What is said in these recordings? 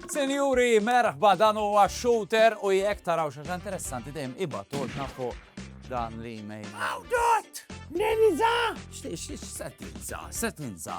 Sinjuri, merħba dan huwa shooter u jekk taraw xi interessanti dejjem ibatulna fuq dan l-email. Awdot! Neniza! X'set ninza? Set ninza?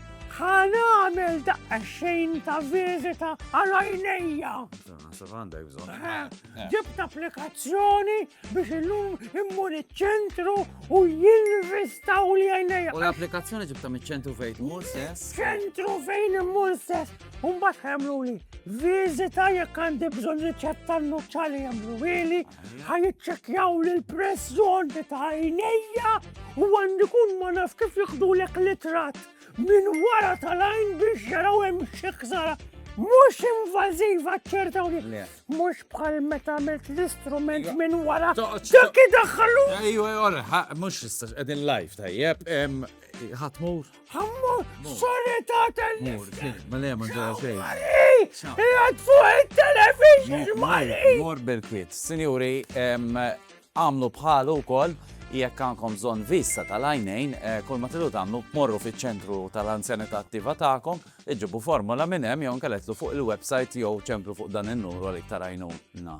Ħa nagħmel daqqa xejn ta' viżita għal għajnejja. Naħseb għandek bżonn. Eh, eh. Ġibt applikazzjoni biex illum immur iċ-ċentru u jinvistaw li għajnejja. U l-applikazzjoni ġibta miċ-ċentru fejn immur sess? Ċentru fejn immur sess. Umbat għamlu li viżita jekk għandi bżonn riċetta n-nuċċali għamlu Ħa jiċċekkjaw l-press zone ta' għajnejja u għandi kun ma naf kif jiħdulek l-itrat minn wara tal-għajn biex jaraw hemm xi ħsara Mux invaziva ċertawni. Mux bħal meta għamilt l-istrument minn wara. Dak daħħalu. Ejwa, ora, mux istax, edin live tajjeb. Ħatmur. Ammu, sorry ta' telli. Mur, ma le, ma ġara xej. Jgħad fuq il-television, mari. Mur bil-kwit. Sinjuri, għamlu bħalu kol, jekk għankom zon vista tal-għajnejn, eh, kol ma tilu tamlu, morru fi ċentru tal-anzjanità attiva ta'kom, iġibu formula minnem, jon kelletlu fuq il-websajt jew ċemplu fuq dan il-nuru għalik tarajnu na.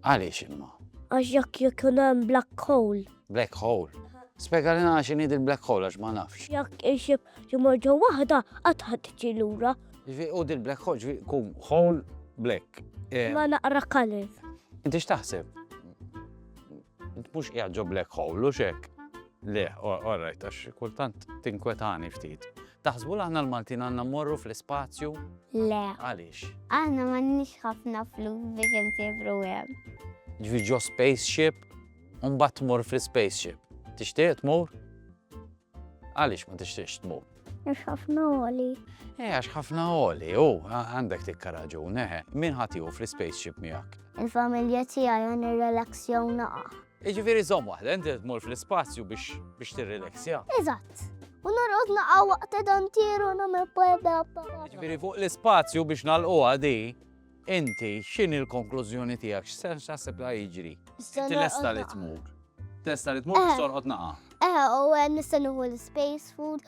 Għaliex imma? Għax jekk jkun hemm black hole. Black hole? Spjega li nagħna x'inhi dil-black hole għax ma nafx. Jekk ixib jimur ġo waħda qatt ħadd tiġi lura. U dil-black hole ġifi kum hole black. Eh, ma naqra color. Inti x'taħseb? Mhux qiegħed ġo black hole u xek. Le, orrajt, għax kultant tinkwetani ftit. Taħsbu li aħna l-Maltin għandna mmorru fl-ispazju? Le. Għaliex? Aħna m'għandniex ħafna flus biex insibru hemm. Ġifi ġo spaceship, u mbagħad tmur fl-spaceship. Tixtieq tmur? Għaliex ma tixtieqx tmur? Għax ħafna għoli. Eh, għax ħafna għoli, u għandek tikka raġun, eħe, eh. min ħatiju fl-spaceship miegħek? Il-familja tiegħi għan ir-relaxjaw naqa. Jiġifieri żomm waħda, inti tmur fl-ispazju biex biex tirrileksja. Eżatt. U norqod naqgħu waqt dantieru nagħmel bwebda. Jiġifieri fuq l-ispazju biex nagħlquha di, inti x'inhi l-konklużjoni tiegħek x'sens x'aħseb li jiġri? Inti lesta li tmur. Testa li tmur biex torqod naqa'. Eh, u eh, nista' nieħu l-space food.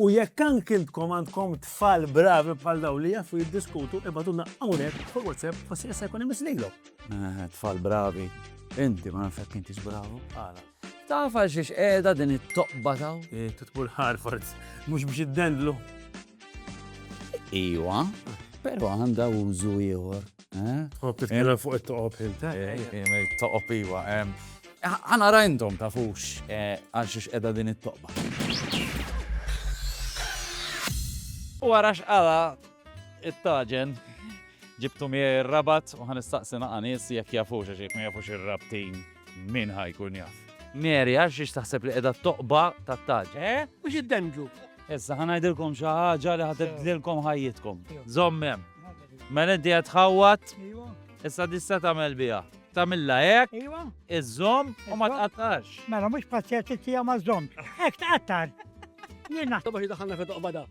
U jekk anki intkom għandkom tfal bravi bħal daw li jafu jiddiskutu, ibaduna hawnhekk fuq WhatsApp u se jkun imislilhom. Eh, tfal bravi, inti ma nafek inti bravu. Għala. Taf għal xiex qiegħda din it-toqba taw? Eh, Titbul Harfords, mhux biex iddendlu. Iwa, però għandha użu ieħor. Tħobb titkellem fuq it-toqob ħiltek? Toqob iwa. Għana rajndom ta' fux għal xiex edha din it-toqba. U għarax għala it-taġen ġibtu mi rabat u għan istaqsina għanis jek jafux għax jek ma jafux il-rabtin min ħajkun jaf. Meri għax xiex taħseb li edha t-toqba ta' taġen. Eh? Mux id-demġu. Issa ħanajdilkom xaħġa li ħatibdilkom ħajjitkom. Zommem. Mela inti qed tħawwat, issa tista' tagħmel biha. Tagħmilha hekk, iżżomm u ma tqattax. Mela mhux pazzjati tiegħu ma żżomm. Hekk tqattar. Jiena. Tabba xi daħalna fi toqbada.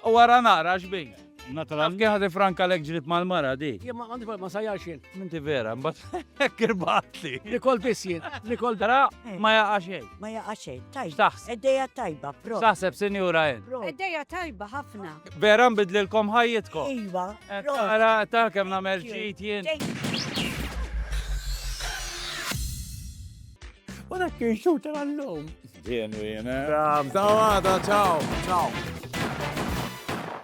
U wara nara x'bin. Naturalment. Kien ħadi franka lek ġrid mal-mara di. Jien ma għandi ma sajjax jien. Minti vera, mbagħad hekk irbatli. Nikol biss jien, nikol dara ma jaqa' xejn. Ma jaqa' xejn, tajb. Taħseb. Eddejja tajba, pro. Taħseb sinjura jien. Eddejja tajba ħafna. Vera nbidlilkom ħajjitkom. Iva. Ara ta' kemm nagħmel ġid jien. U dak kien xut tal-lum. Jien u jien. Sawa, ciao. Ciao.